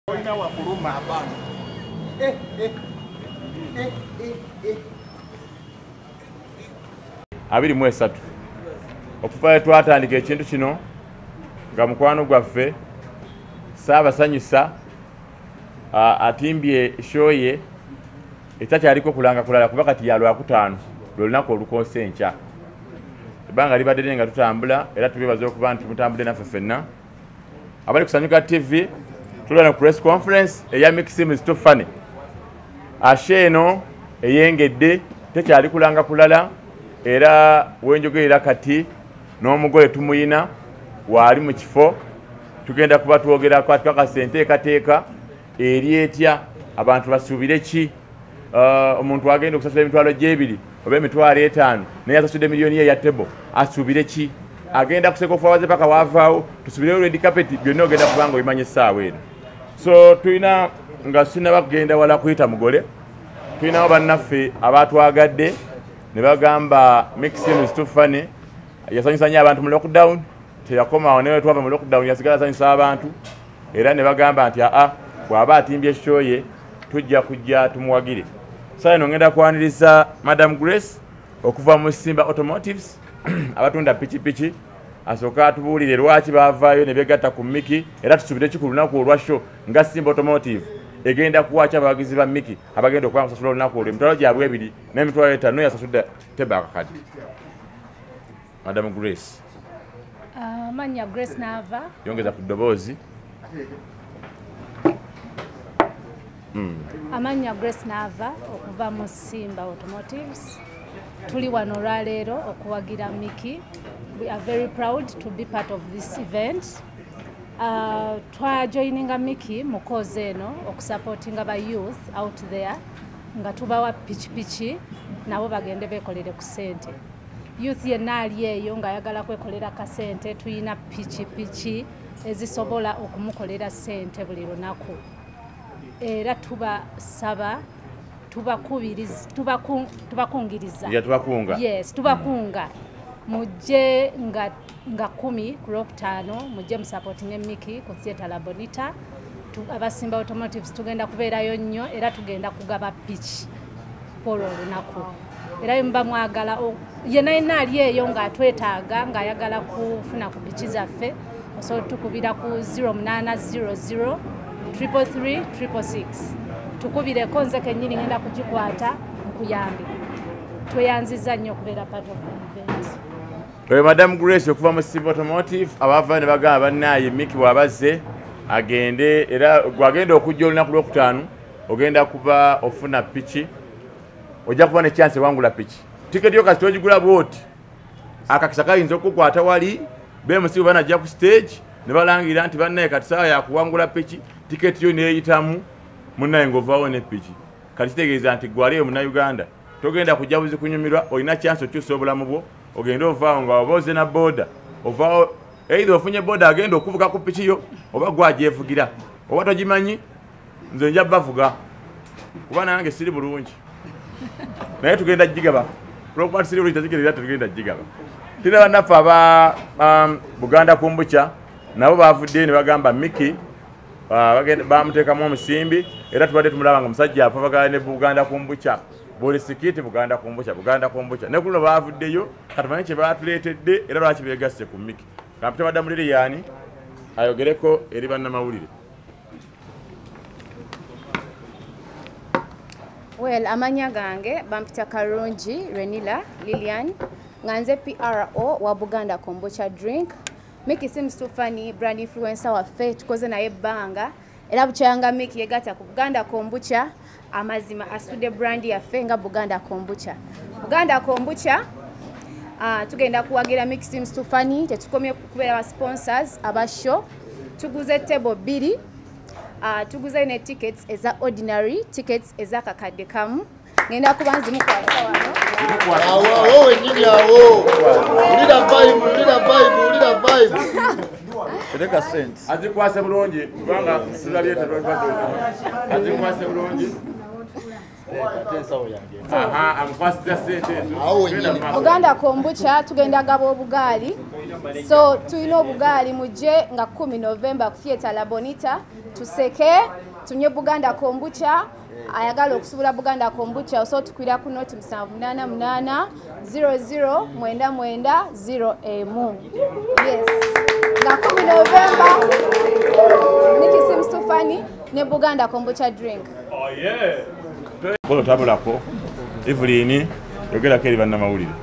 Olina wakuluma abantu. Eh, eh, eh, eh, eh. abiri mu esatu okuva we twatandika ekintu kino nga mukwano gwaffe saabasanyusa atimbye shoye etakyaliko kulanga kulala kuba kati ya lwakutaano lwe lunaku olukoose enkya ebbanga libadde lye nga tutambula era tubebaza okuba nti mutambudde naffe ffenna abali kusanyuka tv tulana ku press conference eya mixim stofane ashe eno eyengedde tekyali kulanga kulala era wenjogerera kati n'omugole tumuyina waali mu kifo tugenda kuba twogerako atukakasa enteekateeka eri etya abantu basuubire ki uh, omuntu agenda okusasula emitwalo gyebiri oba emitwalo etaano naye asasudde miliyoni ye ya tebo asuubire ki agenda kuseka ofuawaze paka wavaawo tusubireyo redi kapeti byonna ogenda kubanga obimanyi essaawa eno so tulina nga sinaba kugenda wala kuyita mugole tulinawo bannaffe abatwagadde ne bagamba mixin stufane yasanyusa nyo abantu mu lockdown teyakomawo naye twava mu lockdown yasigala asanyusa abantu era ne bagamba nti aa bw'aba atimbye ekikyoye tujja kujja tumuwagire saa ino ngenda kwaniriza madam grace okuva mu simba automotives abatunda pikipiki asooka atubuulire lwaki baavaayo ne begatta ku miki era tusuubire ki ku lunaku olwa sho nga simba automotive egenda kuwaki abawagizi ba miki abagenda okuba kusasula olunaku olwo emitwalo gyabwe ebiri n'emitwalo etano yasasudde tebakakadi madam grace ah, manya grace nava yongeza ku ddoboozi hmm. amannya grace naava okuva mu simba automotives tuli wano olwaleero okuwagira miki we are very proud to be part of this event uh, twajoininga miki mu kozi eno okusupportinga ba youth out there nga tubawa pikipiki nabo bagende bekolere ku sente youth yenna ali eyo ng'ayagala kwekolera kasente tulina pikipiki ezisobola okumukolera sente buli lunaku era tubasaba tubakungiriza yes tubakunga mm. mujje nga, nga kumi ku lwokutaano mujje musapotinge miki ku theatre labonita abasimba automotives tugenda kubeerayo nnyo era tugenda kugaba piki kwolwo olunaku era bwemuba mwagala yena yena ali eyo ng'atwetaaga ng'ayagala kufuna ku piki zaffe osobola otukubira ku 0800 333 6 tukubireko nze kenyini ngenda kugikwata nkuyambe tweyanziza nnyo okubeera part of event oyo madam grace okuva mu civil automotive abava ne bagamba bannaaye miki bwabazze agende era gwagenda okujja olunaku lwokutaano ogenda kuba ofuna piki ojja kuba nekyansi ewangula piki tiketi yo kasita ogigula bwoti akakisa kayinza okukukwata wali bemusibu banajja ku stage ne balangira nti bannaye kati saawa yakuwangula piki tiketi yo neyitamu munnaye ngaovaawo ne piki kati kitegeeza nti gwaliyo munauganda togenda kujja buzi kunyumirwa olina kyansi okyusa obulamu bwo ogende ovaawo nga oba oze na boda ovaawo eitha ofunye boda agenda okuvuga ku piki yo oba gwajevugira oba togimanyi nze nja bavuga kuba nange siri bulungi naye tugenda jigaba olwokuba tusiri bulungi takigerera tetugenda jigaba tira banaffe aba um, buganda kumbuca nabo bavuddeyo ne bagamba miki uh, bamuteekamu omusimbi era tubadde tumulaba nga musajja apavagala ne buganda kumbuca buli sikiti buganda kumbuca buganda kumbuca ne kuluno bavuddeyo katumanye kye batuleetedde era lwaki begasse ku miki kampita wadda muliriyani ayogereko eri bannamawulire well amanya gange bampita karungi renila lilian nga nze pro wa buganda kombocha drink miki seems too funny brand influencer waffe tukoze naye ebbanga era bukyanga miki yegata ku buganda kombucha amazima asude brand yaffe nga buganda kombucha buganda kombucha uh, tugenda kuwagira mixim stefani tetukomye kubeera ba sponsors aba show tuguze table bbiri uh, tuguze ne tickets eza ordinary tickets eza kakadde kamu ngenda kuba nzimu kwasa wano Tereka sent. Azikwase bulungi kubanga silabye tetwakwase. Azikwase bulungi. oganda kombucha tugenda gaba obugaali so tulina obugaali mujje nga 1 november ku theatre labonita tuseke tunye buganda kombucha ayagala okusubula buganda kombucha osotukwira ku noti 788 00 99 0 emu yes nga 1 novemba nikisimstufani ne buganda kombucha drink oh, yeah. bolo tabulako evelyn yogerako eri bannamawulire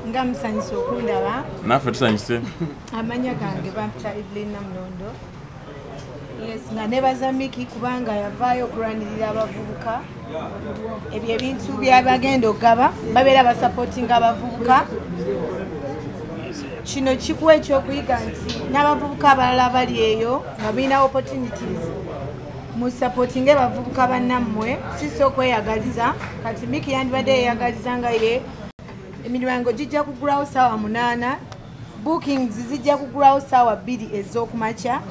nga musanyusa okundaba naffe tusanyuse amanya gange bampita evelyn namulondo nga nebaza miki kubanga yavaayo okulwanirira abavubuka ebyo ebintu byabagenda okugaba babeera basapotinga abavubuka kino kikuwa ekyokuyiga nti n'abavubuka abalala bali eyo nga birina opportunities musapotinge bavubuka bannammwe sisi okweyagaliza kati miki yandibadde yeyagaliza nga ye emiryango gijja kugulawo saawa munaana bookings zijja kugulawo saawa bbiri ez'okumakya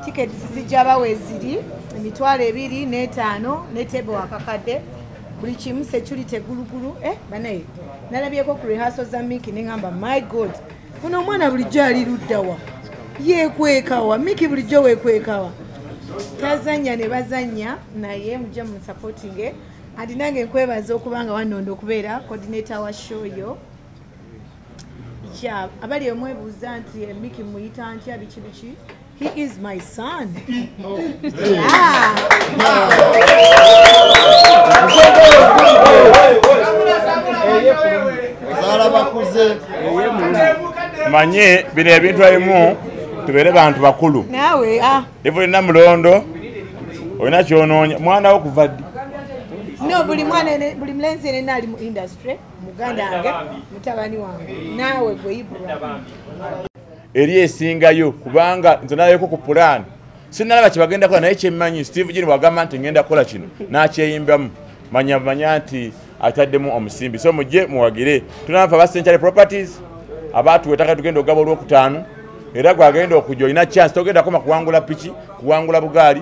tickets zijja bawa eziri emitwalo ebiri n'etaano netebe wakakadde buli kimu security gulugulu eh, banaye nalabyeko ku rehaso za miki neŋamba my god kuno omwana bulijjo ali luddawa yekwekawa miki bulijjo wekwekawa tazanya ne bazanya naye mujja mu supportinge andi nange nkwebaza okubanga wanondo okubeera coordinator wa show yo ya abali emwebuuza nti eh, miki muyita ntya biki biki he is my son manye bino ebintu ebimu tubeere bantu bakulu ah. iva olina mulondo olina kyonoonya mwana wo kuva ddi no buli mwana buli mulenzi yenena ali mu industry muganda wange mutabani wange naawe gwe ibrahim eri esingayo kubanga nze nayeko ku pulaani sinalaba kyebagenda kola naye kyemmanyi steve jini wagamba nti ngenda kukola kino nakyeyimbamu manya manya nti ataddemu omusimbi so mujje muwagire tunanfa ba century properties abaatuwa ettaka tugenda okugaba olwokutaano era gwagenda okujja olina chance togenda koma kuwangula piki kuwangula bugaali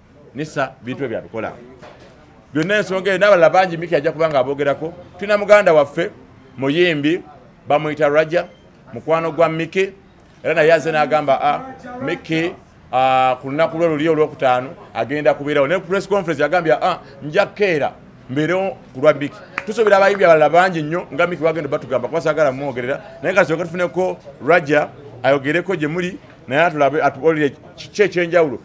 nisa bintu ebyo abikola byonna ensonga eyo n'abalala bangi miki ajja kubanga aboogerako tulina muganda waffe muyimbi bamuyita raja mukwano gwa miki era naye aze n'agamba a ah, miki ah, ku lunaku lwe luli olwokutaano agenda kubeerawo naye press conference yagambye a ah, nja keera mbeerewo ku lwa miki tusuubira abayimbi abalala bangi nnyo nga miki wagenda batugamba kuba sagala mumwogerera naye nga tusoke tufuneko raja ayogereko gye muli naye atulabe atuolire kiki ekyenjawulo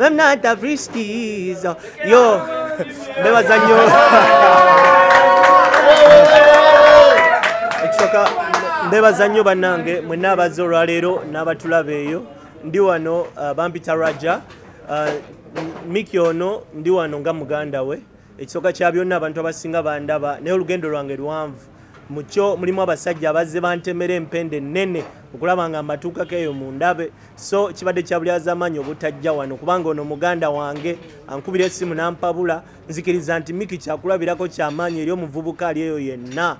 I'm not a British. Yo, mbebaza nnyo. Ekisooka mbebaza nnyo bannange mwenna abazze olwaleero n'abatulaba eyo ndi wano uh, bampita Raja uh, Miki ono ndi wano nga muganda we. ekisooka kya byonna abantu abasinga bandaba naye olugendo lwange luwanvu mukyo mulimu abasajja abazze bantemera empenda ennene okulaba nga mbatuukako eyo mu ndabe so kibadde kyabulyazamaanyi obutajja wano kubanga ono muganda wange ankubira essimu nampabula nzikiriza nti miki kyakulabirako kyamaanyi eri omuvubuka ali eyo yenna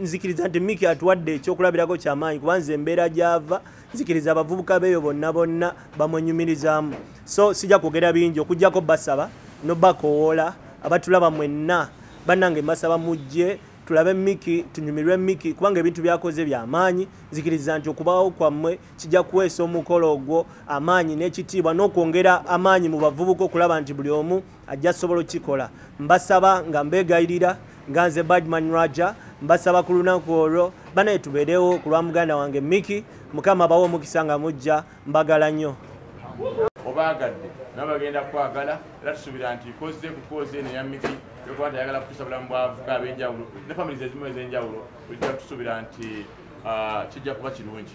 nzikiriza nti miki atuwadde ekyokulabirako kyamaanyi kuba nze embeera gyava nzikiriza abavubuka beeyo bonna bonna bamwenyumirizaamu so sijja kwogera bingi okugyako basaba nobakowoola abatulaba mwenna bannange mbasaba mujje tulabe miki tunyumirwe miki kubanga ebintu byakoze byamaanyi nzikiriza nti okubawo kwammwe kijja kuweesa omukolo ogwo amaanyi n'ekitiibwa n'okwongera amaanyi mu bavubuka okulaba nti buli omu ajja sobola okukikola mbasaba nga mbegayirira nga nze badman raja mbasaba ku lunaku olwo banaye tubeerewo ku lwa muganda wange miki mukama bawe omukisa nga mujja mbagala nnyo obaagadde nabo bagenda kukwagala era tusuubira nti kozze kukooze eno yamiki yokuba nti ayagala kutusa bulamu bwavuka ab'enjawulo ne famili zezimu ez'enjawulo ojja tusuubira nti ah, kijja kuba kirungi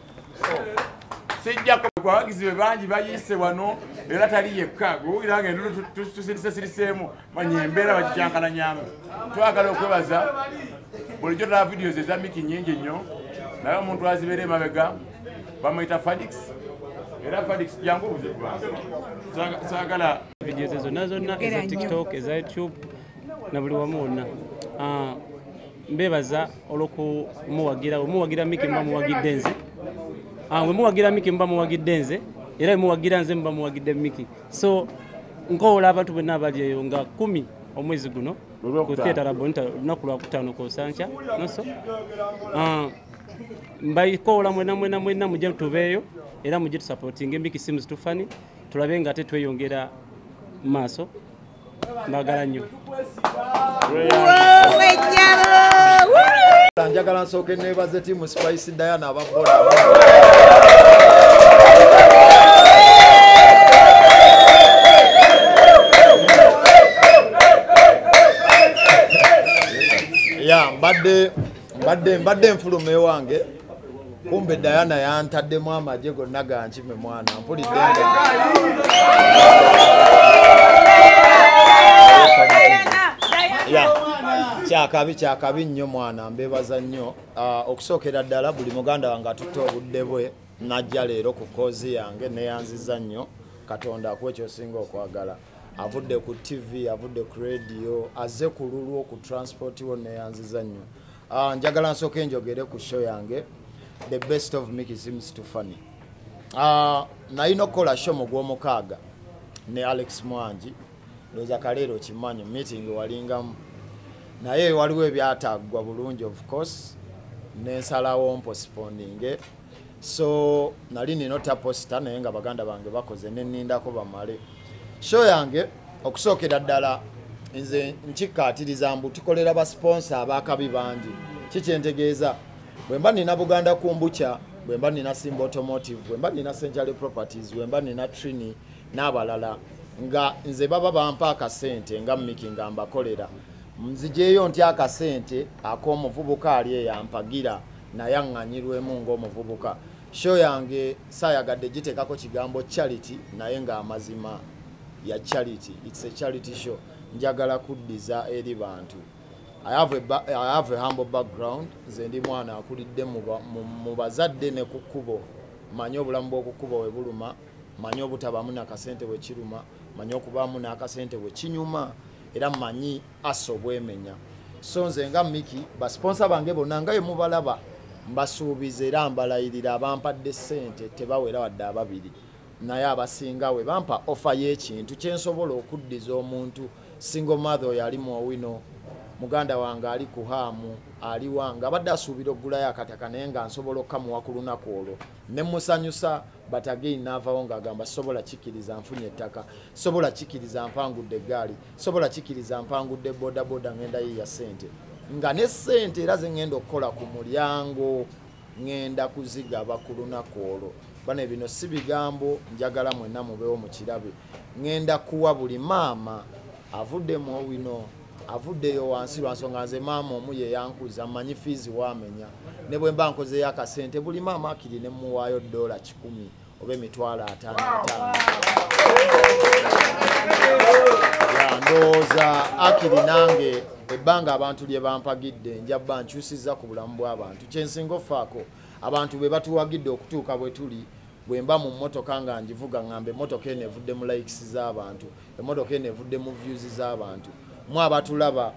sijjako abawagizi be bangi bayiise wano era tali yekka gwewulira nga endulu tusirise siriseemu manya embeera bakikyankalanyamu twagala okwebaza bulijjo tala videos eza miki nyingi nnyo naye omuntu azibeera emabega bamuyita fadix era fadix jangu obuzibu sagala videos zonna zonna eza tiktok eza youtube na buli wamu wonna ah, mbebaza olwokumuwagira wemuwagira miki muba muwagidde nze ah, wemuwagira miki muba muwagidde nze era wemuwagira nze muba muwagidde miki so nkowola abantu bonna abali eyo nga kumi omwezi guno ku theatre labonita olunaku lwakutaano kosankya noso ah, mbakowola mwena mwena mwena muje tubeeyo era muje tusapotinga emiki simu zitufani tulabe nga ate tweyongera maaso mbagala nnyo njagala nsooke nebaze timu spice diana ababoda ya mbadde mbadde mbadde nfuluma ewange kumbe diana yantaddemu amagye gonna gankime mwana mpulidde kyakabi kyakabi nnyo mwana mbebaza nnyo ah, okusookera ddala buli muganda wange atutte obudde bwe najja leero ku koozi yange neyanziza nnyo katonda akuwa ekyosinga okwagala avudde ku tv avudde ku radio aze ku lulwo ku transport wo neyanziza nnyo Ah, njagala nsooka enjogere ku show yange the best of miki seems to funny ah, nalina okukola show mu gwomukaaga ne alex mwangi ndoza kaleero kimanyi meeting walingamu naye waliwo ebyataggwa bulungi of course nensalawo mposiponinge so nali nina otya posita naye nga baganda bange bakoze nenindako bamale sho yange okusookera ddala nze nkikkaatiriza mbu tukolera basiponsa abakabi bangi kikyentegeeza bwe mba nina buganda kumbukya bwe mba nina simba automotive bwe mba nina century properties bwe mba nina trini n'abalala nga nze baba bampa akasente nga miki nga mbakolera nzijeeyo nti akasente ak'omuvubuka ali eyampagira naye aŋŋanyirwemu ng'omuvubuka show yange saayagadde giteekako kigambo charity naye ng'amazima ya charity its a charity show njagala kuddiza eri bantu I have, a I have a humble background nze ndi mwana akulidde mu bazadde ne ku kkubo manyi obulamu bw'oku kkubo we buluma manyi obutabaamu nakasente bwe kiruma manyi okubaamu n'akasente bwe kinyuma era manyi asa obwemenya so nze nga miki basiponsa bange bonna nga yemubalaba mbasuubiza era mbalayirira abampadde ssente tebawera wadde ababiri naye abasinga we bampa ofa y'ekintu kyensobola okuddiza omuntu single mother oyo ali muowino muganda wange ali ku haamu aliwa nga abadde asuubira okugulayo akataka naye nga nsobola okukamuwa ku lunaku olwo ne musanyusa batagei naavawo ng'agamba sobola kikkiriza nfunye ettaka sobola kikkiriza mpangudde eggaali sobola kikiriza mpangudde bodaboda ngenda yiya sente nga ne sente era zengenda okukola ku mulyango ngenda kuzigaba ku lunaku olwo bane bino si bigambo njagala mwena mubewo mukirabe ngenda kuwa buli maama avuddemu owino avuddeyo wansi lwansonga nze maama omu yeyankuza manyi fiizi wamenya ne bwemba nkozeyo akasente buli maama akiri nemuwaayo dola kikumi oba emitwalo ataano ataano ndowooza akiri nange ebbanga abantu lye bampagidde njabba nkyusiza ku bulamu bw'abantu kyensinga ofaako abantu be batuwagidde okutuuka bwe tuli bwe mba mu mmotoka nga ngivuga ngamba emmotoka eno evudde mu likes z'abantu emmotoka eno evudde mu views z'abantu mwe abatulaba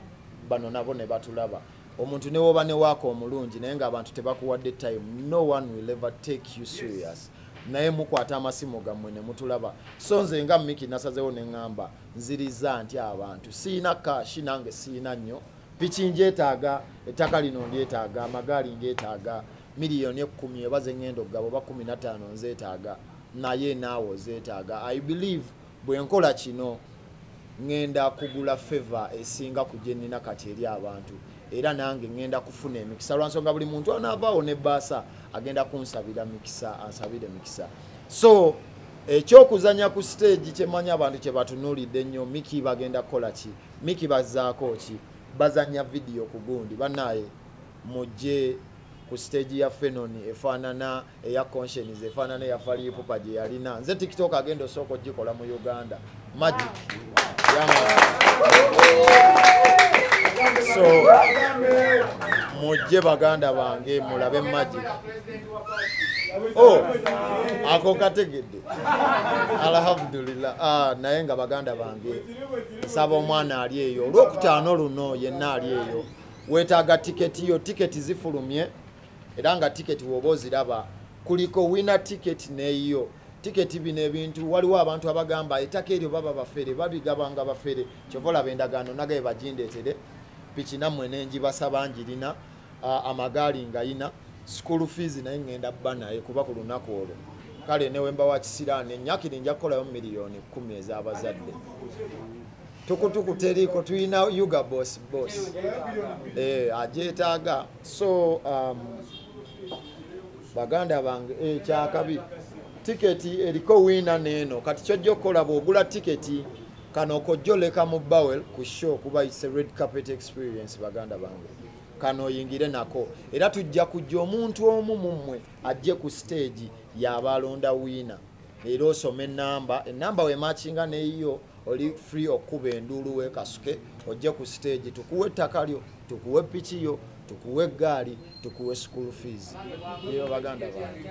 bano nabo ne batulaba omuntu newoba ne waaka omulungi naye nga abantu tebakuwadde time no one will ever take you serious naye mukwata amasimu gammwe nemutulaba so nze nga miki nasazewo neŋŋamba nziriza nti abantu siina kashi nange siina nnyo piki njetaaga ettaka lino ndyetaaga amagaali ngetaaga miliyoni ekkumi eba zeŋŋenda okugaba oba kumi nataano nzetaaga naye naawe ozetaaga i believe Bwe nkola kino ŋŋenda kugula feva esinga ku gye nnina kati eri abantu era nange ŋŋenda kufuna emikisa lwa nsonga buli muntu anaavaawo ne baasa agenda kunsabira mikisa ansabire mikisa so ekyokuzanya ku siteegi kyemanyi abantu kye batunuulidde nnyo miki bagenda kukola ki miki bazaako ki bazanya vidiyo ku gundi banaye mujje ku stage ya fenon efaanana eya conscience efaanana eya falipupa gye yalina nze tiktok agenda osooka ogikola mu uganda magic so mujje baganda bange mulabe magic oh, ako kategedde alhamdulillah ah, naye nga baganda bange nsaba omwana ali eyo olwokutaano luno yenna ali eyo weetaaga tiketi yo tiketi zifulumye era nga tiketi wooba oziraba kuliko wina tiketi neeyiyo tiketi bino ebintu waliwo abantu abagamba ettaka eryo baba bafere babigabanga bafere kyova olaba endagaano nagaye bagindeetere piki nammwe nenjibasaba njirina amagaali ngayina school fees naye ngenda bba naye kuba ku lunaku olwo kale newemba wa kisiraani enyakiri nja kukolayo miliyoni kumi ez'abazadde tukutuku teriiko tulina uga bos bos eh, agyetaaga so um, baganda bange eh, kyakabi tiketi eriko wiina neeno kati kyojja okukola bwogula tiketi kano kojjoleka mu bowel ku show kuba its a red carpet experience baganda bange kano oyingire nako era tujja kujja omuntu omu mummwe ajje ku stage yabaalonda wiina leero osoma enamba enamba wemakinga neyiyo oli free okukuba enduulu wekasuke ojje ku siteegi tukuwa ettaka lyo tukuwa epiki yo tukuwa eggaali tukuwa school fees eyo baganda bange